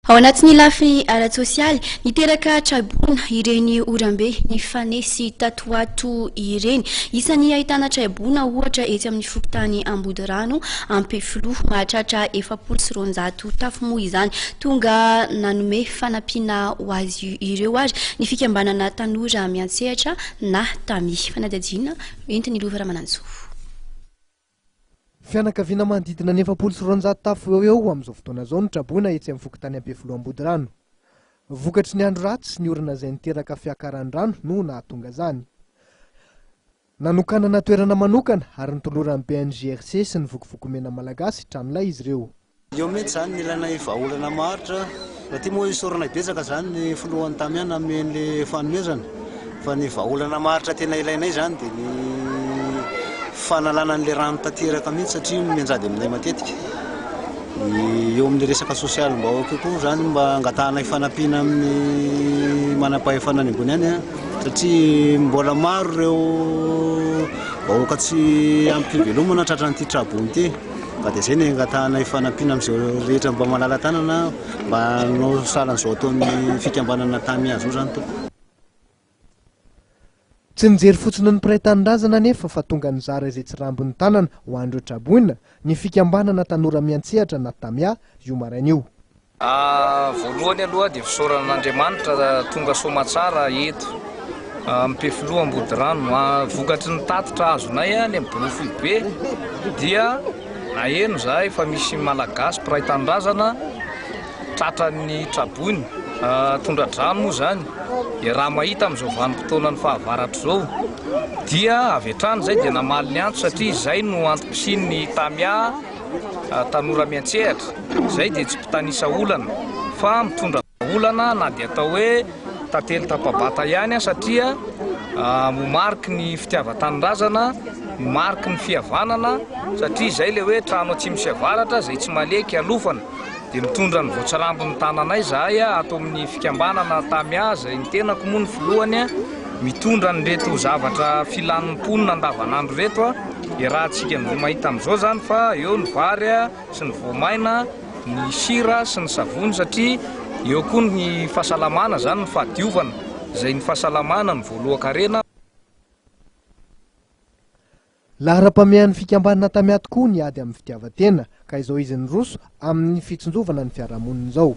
Ao anatin'ny lafiny ara-tsosialy, niteraka traiboina ireny orambe nifanesy tato ho ato ireny. Isan'ny ahitana traiboina ohatra etsy amin'ny fokontany Ambodirano, Ampefiloha. Mahatratra efapolo sy roanjato tafo moa izany. Tonga nanome fanampiana ho azy ireo ary ny fikambanana Tanora Miantsehatra na Tami. Fanadihadiana entin'i Lova Ramanantsoa. Fianakaviana manodidina ny efapolo sy roanjato tafo eo ho eo amin'izao fotoana izao no traboina etsy amin'ny fokontany Ampefiloha Ambodirano. Vokatry ny andro ratsy sy ny orana izay niteraka fiakaran'ny rano no nahatonga izany. Nanokanana toerana manokana ary notoloran'ny BNGRC sy ny Vokovoko Mena Malagasy tranolay izy ireo. Io mihitsy izany ny ilainay vahaolana maharitra. Rahateo moa isaoranay betsaka izany ny filohan'ny Tamiana hanome an'ilay fanomezana. Fa ny vahaolana maharitra tena ilainay izany dia ny fanalana an'ilay rano tanteraka mihitsy satria mianjady aminay matetika. Eo amin'ny resaka sosialim-bahoaka io koa izany mba angatahanay fanampiana amin'ny manam-pahefana any ambony any satria mbola maro ireo vahoaka tsy ampy fivelomana tratran'ity trabom ity. Ka dia izay no angatahanay fanampiana amin'izao rehetra mba malala-tanana mba hanao sahalan'izao ataon'ny fikambanana Tamy azy io izany tompoko. Tsy nijery fotsiny ny mpiray tanindrazana anefa fa tonga nizara izay tsy rambon'ny tanana ho an'ireo traboina ny fikambanana tanora miantsehatra na Tamia io maraina io. Voalohany aloha dia fisaorana an'Andriamanitra tonga soamatsara eto Ampefiloha Ambodirano. Vokatry ny tatitra azonay any amin'ny Bory Foibe dia naheno izahay fa misy Malagasy mpiray tanindrazana tratran'ny tra-boina, tondra-drano moa izany. Dia raha mahita amin'izao vanim-potoanan'ny fahavaratra izao dia avy hatrany izahay dia namaly ny antso satria izay no antom-pisian'ny Tamia. Tanora miantsehatra, izay dia tsy mpitanisa olana fa mitondra olana na dia atao hoe tantely tapa-bata ihany aza satria mariky ny fitiavan-tanindrazana, mariky ny fihavanana satria izay ilay hoe trano atsimo sy avaratra izay tsy maleha kialofana. Dia mitondra ny voatsirambin'ny tananay izahay ato amin'ny fikambanana Tamia izay ny tenako moa no filohany, mitondra an'ireto zavatra filan'ny mponina andavanandro ireto. Iarahantsika amin'izay mahita amin'izao izany fa eo ny vary sy ny voamaina, ny sira sy ny savony satria eo koa ny fahasalamana izany no fahadiovana izay ny fahasalamana no voalohan-karena. Laharam-pamehan'ny fikambanana Tamia tokoa ny ady amin'ny fitiavan-tena ka izao izy niroso amin'ny fitsinjovana ny fiarahamonina izao.